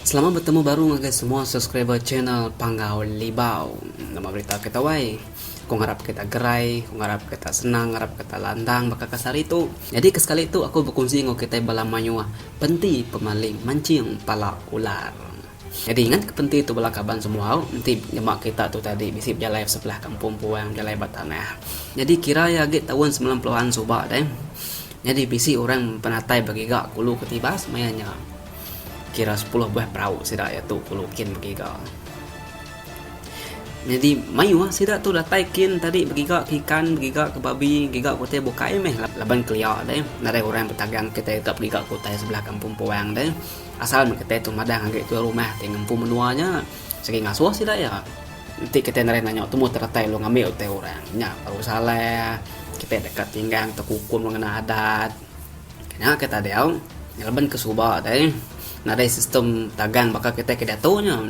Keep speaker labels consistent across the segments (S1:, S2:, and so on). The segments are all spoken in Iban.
S1: Selamat betemu baru ngagai semua subscriber channel Panggau Libau. Nama berita kita wai? Aku ngarap kita gerai, aku ngarap kita senang, ngarap kita landang baka kasar hari tu. Nyadi ke sekali tu aku bekunsi enggau kitai bala mayuh penti pemaling mancing pala ular. Nyadi ngan kepenti tu bala kaban semuau enti nyema kerita tu tadi bisi bejalai ba sebelah kampung puang bejalai ba tanah. Nyadi kira iya agi taun semilan puluh an suba deh. Nyadi bisi orang penatai begiga kulu ketibas maya nya. Kira sepuluh buah perau sida iya tu kulu kin begiga. Nyadi mayuh sida tu datai kin tadi begiga ke ikan begiga ke babi giga ke utai bukai meh laban kelia deh nadai orang betagang kitai ka begiga ke utai sebelah kampung puang deh. Asal meh kitai tu madah ngagai tuai rumah ti ngempu menua nya, sigi ngasuh sida iya. Enti kitai neri nanya tumu teretai lu ngambi utai orang, nya baru salah. Kitai deka tinggang tekukum lu ngena adat. Nya ke tadi au, ngeleban ke suba deh, nadai sistem tagang baka kitai ke diatu nya.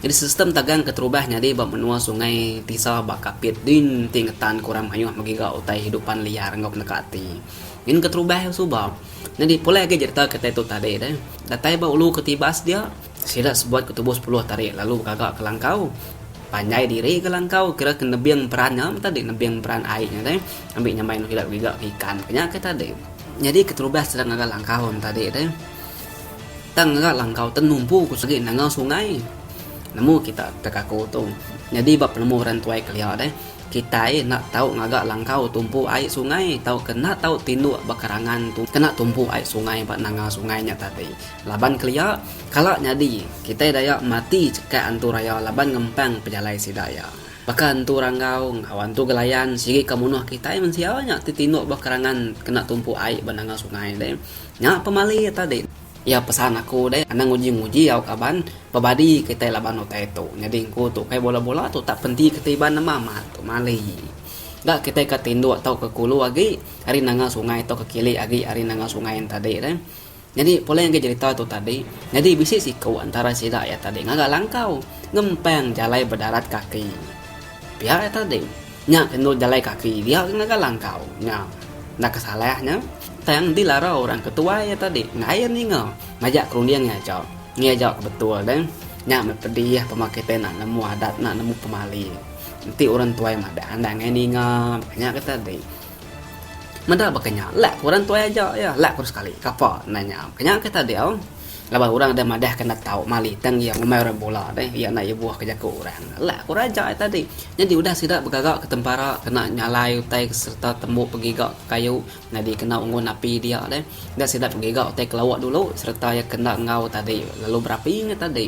S1: Nyadi sistem tagang ke terubah nyadi ba menua sungai tisa ba Kapit din ti ngetanka orang mayuh megiga utai hidupan liar enggau peneka ati. Ngin ke terubah suba. Nyadi pulai agi jereta kitai tu tadi deh. Datai ba ulu ke Tibas dia, sida sebuat ke tubuh sepuluh tari lalu begaga ke langkau. Panjai diri ke langkau kira ke nebing peran nya meh tadi, nebing peran ai nya deh ambi nyamai enggau sida begiga ke ikan ke nya ke tadi. Nyadi keterubah sida ngaga langkau ne tadi deh. Tang ngaga langkau tu numpu ku sigi nanga sungai. Nemu kita tekaku tu. Nyadi ba penemu orang tuai kelia deh. Kitai enda tau ngaga langkau tumpu ai sungai tauka enda tau tinduk ba kerangan tu kena tumpu ai sungai ba nanga sungai nya tadi. Laban kelia, kala nyadi, kitai daya mati chekak Entu Raya laban ngempang pejalai sida iya. Baka Entu Ranggau enggau Entu Gelayan sigi ka munuh kitai mensia nya ti tinduk ba kerangan kena tumpu ai ba nanga sungai deh. Nya pemali iya tadi. Iya pesan aku deh anang uji nguji au kaban bebadi kitai laban utai tu nyadi engku tu kai bola bola tu tak penti keti iban nama amat tu mali ga kitai ka tinduk tau ke kulu agi ari nanga sungai tau ke kili agi ari nanga sungai enta tadi deh nyadi pulai ngagai jerita tu tadi nyadi bisi siku antara sida iya tadi ngaga langkau ngempang jalai bedarat kaki pia iya tadi nya ke endur jalai kaki dia ke ngaga langkau nya enda ke salah nya. Tang enti lara orang ke tuai iya tadi ngain ninga majak ke runding iya aja. Iya aja ke betul deh. Nya meh pedih pemah kitai enda nemu adat enda nemu pemali. Enti orang tuai madah enda ngain ninga meh nya ke tadi. Meda baka nya lak ke orang tuai aja iya lak ku sekali kapa enda nya meh nya ke tadi au. Laban orang deh madah ke enda tau mali tang iya ngumbai orang bula deh iya enda ibuh ke jaku orang. Lak ku raja iya tadi. Nyadi udah sida begaga ke tempara kena nyalai utai sereta tembu pegiga ke kayu. Nyadi kena unggun api dia deh. Enda sida pengiga utai ke lawa dulu sereta iya kena enggau tadi lalu berapi nya tadi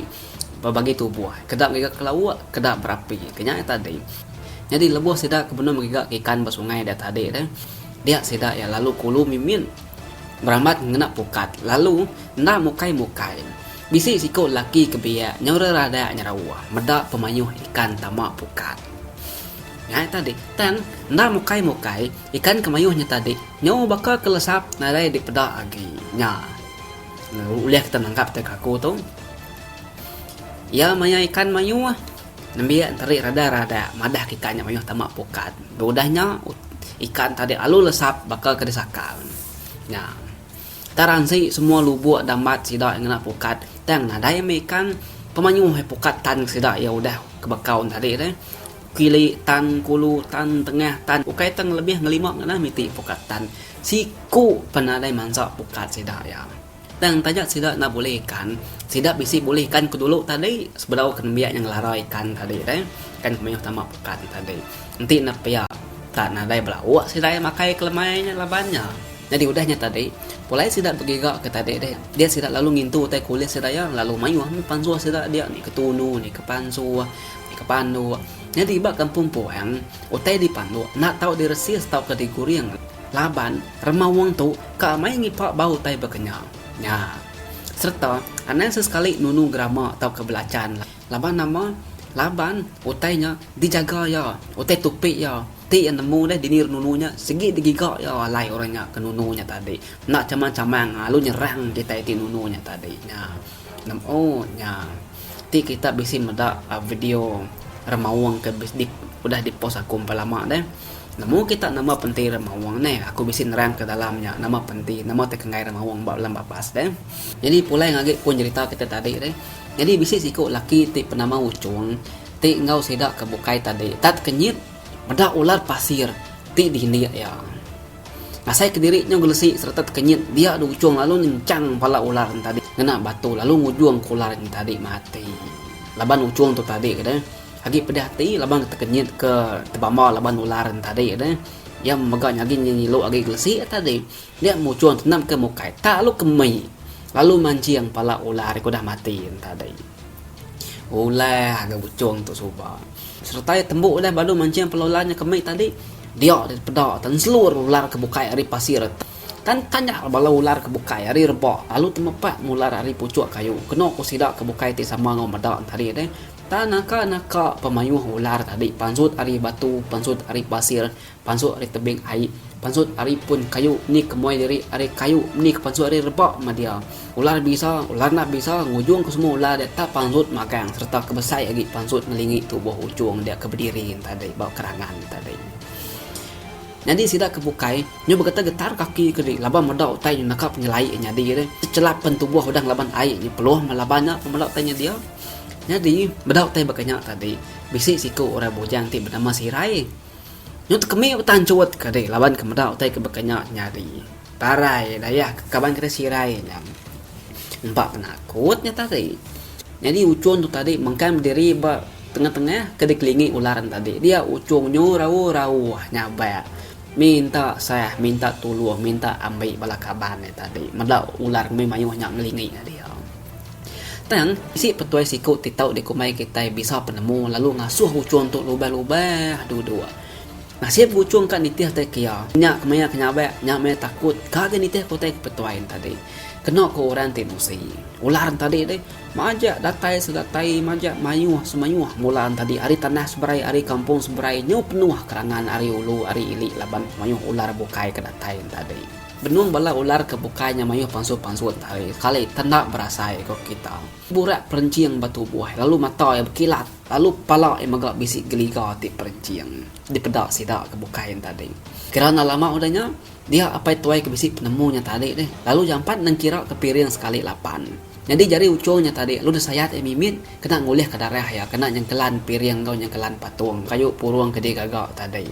S1: ba bagi tubuh keda ngiga ke lawa keda berapi ke nya tadi. Nyadi lebuh sida ke benung ngiga ke ikan ba sungai dia tadi deh dia sida iya lalu kulu mimit berambat ngena pukat lalu enda mukai-mukai. Bisi siku lelaki ke biak nyaura radak nyerauh meda pemayuh ikan tama pukat. Ngai tadi, tang enda mukai-mukai ikan ke mayuh nya tadi nyu baka ke lesap nadai dipeda agi nya. Ulih kita nanggap tega aku tu. Iya maya ikan mayuh nembiak enteri rada-rada madah ke ikan nya mayuh tama pukat. Ba udah nya ikan tadi lalu lesap baka ke disakal nya. Tarang si semua lubok dambat sida ngena pukat tang nadai mih ikan pemayuh pukat tan sida iya udah ke bekau tadi deh. Kili, tan, kulu, tan, tengah, tan ukai tang lebih ngelima ngena miti pukat tan siku pan nadai mansa pukat sida iya. Tang taja sida enda bulih ikan, sida bisi bulih ikan ke dulu tadi sebedau ke nembiak nya ngelara ikan tadi deh, ikan ke mayuh tama pukat nya tadi. Enti ne pia tak nadai bala auk sida iya makai ke lemai nya laban nya. Nyadi udah nya tadi, pulai sida begiga ke tadi deh, dia sida lalu ngintu utai kulit sida iya lalu mayuh meh pansuh sida dia ni ke tunu, ni ke pansuh. Di kepa andu. Nyadi ba kampung Puang, utai dipandu enda tau diresis tauka diguring laban rema wong tu ka amai ngipak ba utai bekenya nya sereta anang sesekali nunu gerama tauka belachan laban nama laban utai nya dijaga iya utai tupi iya ti iya nemu deh dini nunu nya sigi digiga iya alai orang nya ke nunu nya tadi enda chamang-chamang lalu nyerang kitai ti nunu nya tadi nya. Nemu nya ti kita bisi meda video remaung ke udah di post aku empai lama deh. Nemu kita nama penti remaung ne. Aku bisi nerang ka dalam nya nama penti nama ti kenggai remaung ba dalam babas ne. Nyadi pulai agi pun jerita kita tadi deh. Nyadi bisi siku laki ti penama Uchong ti enggau sida ke bukai tadi tat kenyit meda ular pasir ti dini iya. Ngasai kediri nyau gelesi sereta tekenyit dia di uchung lalu nyenchang pala ular nya tadi ngena batu lalu ngujung ke ular nya tadi mati. Laban uchung tu tadi deh agi pedih ati laban ke tekenyit ke tebamba laban ular nya tadi deh iya mega nyagi nyilu agi gelesi nya tadi dia muchung tenam ke mukai tak lalu ke mei lalu manching pala ular ke udah mati nya tadi. Ulah ga Buchong tu suba. Sereta iya tembu udah balu manching pelu ular nya kembi tadi, dia deh peda tenselur ular ke bukai ari pasir. Tan tanya bala ular ke bukai ari reba lalu temepak mular ari puchuk kayu. Kenu ku sida ke bukai ti sama enggau meda tadi deh, tan naka-naka pemayuh ular tadi pansut ari batu, pansut ari pasir. Pansut ari tebing ai. Pansut ari pun kayu ni ke muai diri ari kayu ni ke pansut ari reba mah dia. Ular bisa, ular enda bisa, ngujung ke semua ular dia tak pansut magang sereta ke besai agi pansut ngelingi tubuh ujung dia ke bediri tadi ba kerangan tadi. Nyadi sida ke bukai, nyau begetar-getar kaki ke diri laban meda utai nyau naka penyelai iya nyadi deh. Sechelap pen tubuh udah ngelaban ai nyau peluh meh laban nya ke meda utai nya dia. Nyadi meda utai baka nya tadi bisi siku orang bujang ti benama Sirai. Nyau tekemik utan chut ke ri laban ke meda utai ke baka nya nyadi parai dayah ke kaban kitai sirai nya. Empa penakut nya tadi. Nyadi uchung tu tadi mengkang bediri ba tengah-tengah ke dikelingi ular nya tadi. Dia uchung nyu rauh-rauh nyabak minta sah, minta tulung, minta ambi bala kaban nya tadi. Meda ular mih mayuh nya ngelingi ka dia. Tang, bisi petuai siku ti tau dikumbai kitai bisa penemu lalu ngasuh uchung tu lubah-lubah dudu. Nasit buchung ka nitih utai ke iya, nya ke maya ke nyabak, nya maya takut ka agi nitih ke utai ke petuai entadi. Kena ku orang ti musi, ular entadi deh, majak datai sedatai, majak mayuh semayuh mula entadi ari tanah seberai ari kampung seberai nyau penuh kerangan ari ulu ari ili laban mayuh ular bukai ke datai entadi. Benung bala ular ke bukai nya mayuh pansut-pansut ari sekali tanda berasai ko kita. Burak perenching ba tubuh lalu mata iya bekilat lalu pala iya mega bisi geliga ti perenching dipeda sida ke bukai nya tadi. Kira enda lama udah nya, dia apai tuai ke bisi penemu nya tadi deh lalu jampat nengkira ke piring sekali lapan. Nyadi jari uchung nya tadi lalu disayat iya mimit kena ngulihka darah iya kena nyengkelan piring enggau nyengkelan patung kayu purung ke digaga tadi.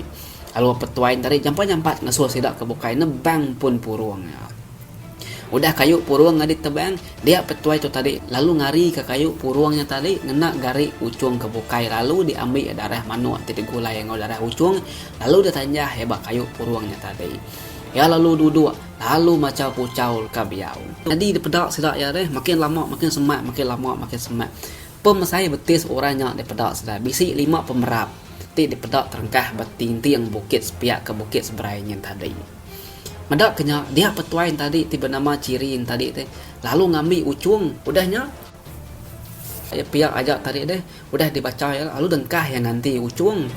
S1: Lalu Petuai Ntari jampat-jampat ngesul sida ke bukai nebang pun purung nya. Udah kayu purung nya ditebang, dia Petuai tu tadi lalu ngarika kayu purung nya tadi ngena gari uchung ke bukai lalu diambi darah manuk ti digulai enggau darah uchung lalu ditanjah iya ba kayu purung nya tadi. Iya lalu duduk lalu machau puchau ka biau. Nyadi dipeda sida iya deh, makin lama makin semak, makin lama makin semak. Pemesai betis orang nya dipeda serai bisi lima pemerap ti dipeda terengkah ba tingting bukit sepiak ke Bukit Seberai nyin tadi. Meda ke nya, dia petuai entadi ti benama Chiri entadi deh lalu ngambi uchung. Udah nya, iya piak aja tadi deh udah dibacha iya lalu dengkah iya nganti uchung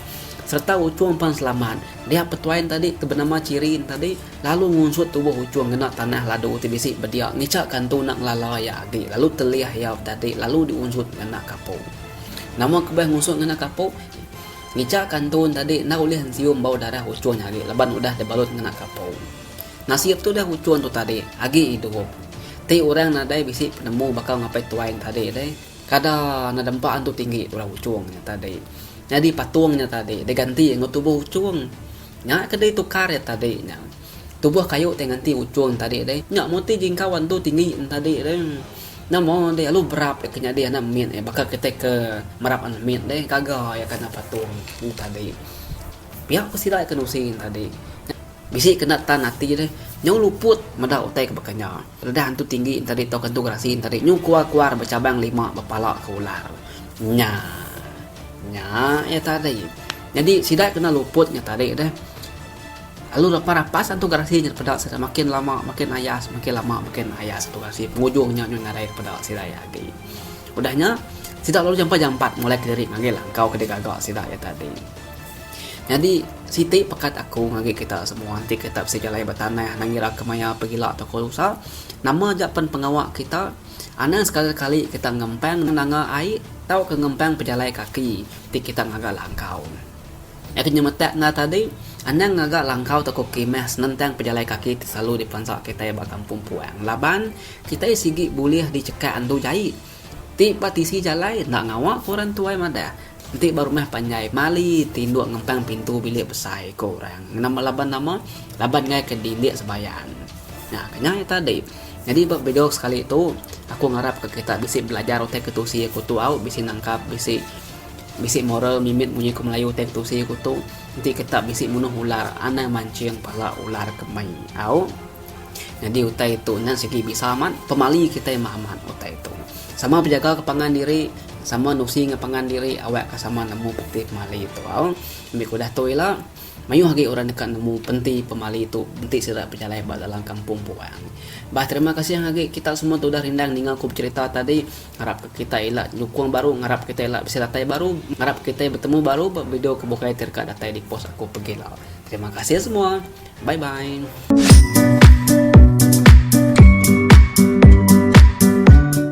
S1: sereta uchung pan selamat. Dia petuai entadi ti benama Chiri entadi. lalu ngunsut tubuh Uchung ngena tanah ladu ti bisi bedia ngicha ka entu enda ngelala iya agi lalu telih iya betati lalu diunsut ngena kapu. Nama ke beh ngunsut ngena kapu? Ngicha ka entu entadi enda ulih ensium bau darah Uchung agi laban udah dibalut ngena kapu. Nasib tu deh Uchung tu tadi agi idup. Ti orang nadai bisi penemu baka ngapai tuai entadi deh. Kada enda dempa entu tinggi tuai Uchung nya tadi. Nyadi patung nya tadi diganti enggau tubuh Uchung. Nya ke deh tukar iya tadi nya. Tubuh kayu ti nganti ujung tadi deh. Nya mung ti jingkau andu tinggi en tadi deh. Nya mung deh alu berap iya ke nyadi anak mit eh baka kitai ke merap anak mit deh gaga iya ke anak patung tu tadi. Pia ku sida iya ke nusi en tadi. Nya bisi ke enda tan ati deh. Nyau luput meda utai ke baka nya. Redah antu tinggi en tadi tauka antu gerasi en tadi nyu kuar-kuar becabang lima bepala ke ular. Nya. Nya iya tadi. Nyadi sida kena luput nya tadi deh. Lalu lepas rapas antu garasi nya peda sida makin lama makin ayas makin lama makin ayas antu garasi pengujung nya nyun ngarai peda sida iya agi. Udah nya sida lalu jampat jampat molek kediri manggil angkau ke digaga sida iya tadi. Nyadi siti pekat aku ngagai kita semua enti kita bisi jalai ba tanah nang ngira ke maya pegila toko rusa nama aja pen pengawa kita anang sekali kali kita ngempang nanga ai tauka ngempang pejalai kaki Ti kita ngaga langkau. Nya ke nyemetak enda tadi, anang ngaga langkau tauka khemah senentang pejalai kaki ti selalu diperansa kitai ba kampung puang laban kitai sigi bulih dichekak andu jai ti ba tisi jalai enda ngawa ku orang tuai madah enti ba rumah panjai mali ti indu ngempang pintu bilik besai ku orang laban nama laban ngaika dindik sebayan. Nya ke nyai tadi. Nyadi ba video sekali tu, aku ngarapka kita bisi belajar utai ketusi aku tu au, bisi nangkap, bisi bisi moral mimit munyi ke Melayu utai ketusi aku tu. Enti kita bisi munuh ular, anang manching pala ular ke mei au. Nyadi utai tu nya sigi bisa amat pemali kita meh amat utai tu. Sama bejaga ke pangan diri, sama nusi ngan pangan diri awakka sama nemu peti pemali tu au. Ambika udah tu ila, Mayuh agi orang deka nemu penti pemali tu enti sida bejalai ba dalam kampung Puang. Bah terima kasih agi kita semua tu udah rindang ninga ku becerita tadi. Ngarap ka kita ila nyukung baru, ngarap kita ila bisi datai baru, ngarap kita betemu baru ba video ke bukai ti deka datai di post aku pegila. Terima kasih semua. Bye bye.